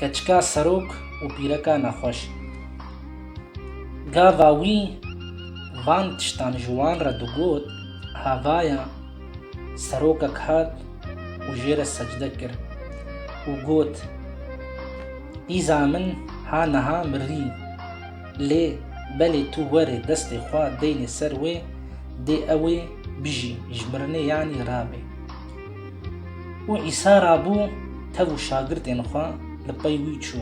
Keçika serok û pîreka nexweş. Gava wî van tiştan ji wan re digot, Havaya serokek hat û jê re secde kir û got, Îza min ha niha mirî, lê belê tu were destê xwe deynê ser wê, dê ewê bijî, ji mirinê yanî rabe. Û Îsa rabû tev û şagirdên xwe li pey wî çû.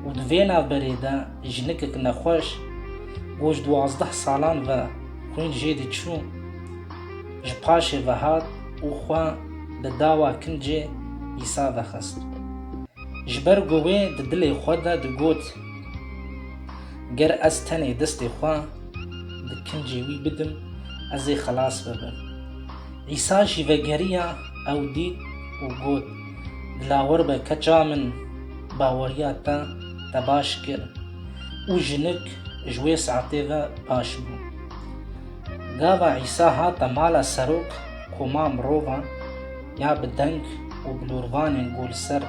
Û di vê navberê de jinikek nexweş ku ji duwazdeh salan ve xwîn jê diçû, ji paşê ve hat û xwe li dawa kincê Îsa ve xist. Ji ber ku wê di dilê xwe de digot, Ger ez tenê destê xwe di kincê wî bidim, ez ê xelas bibim. Îsa jî vegeriya ew dît û got, Dilawar be keça min baweriya te te baş kir. Û jinik ji wê saetê ve baş bû. Gava Îsa hate mala serok koma mirovan ya bi deng û bilûrvanên gol ser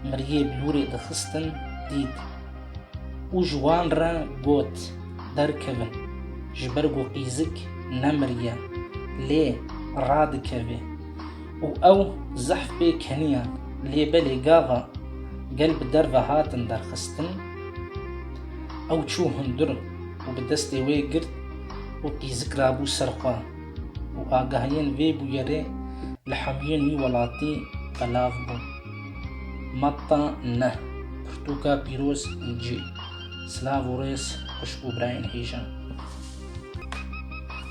miriyê bilûrê dixistin dît. û ji wan re got, Derkevin, ji ber ku qîzik nemiriye, lê radikeve. Û ew zehf pê keniyan, lê belê gava gel bi derve hatin derxistin, ew çû hundir û bi destê wê girt û qîzik rabû ser xwe û agahiyên vê bûyerê li hemûyên wî welatî belav bûn. Matta ne, pirtûka pîroz cî. Silav û rêz xwişk û birayên hêja.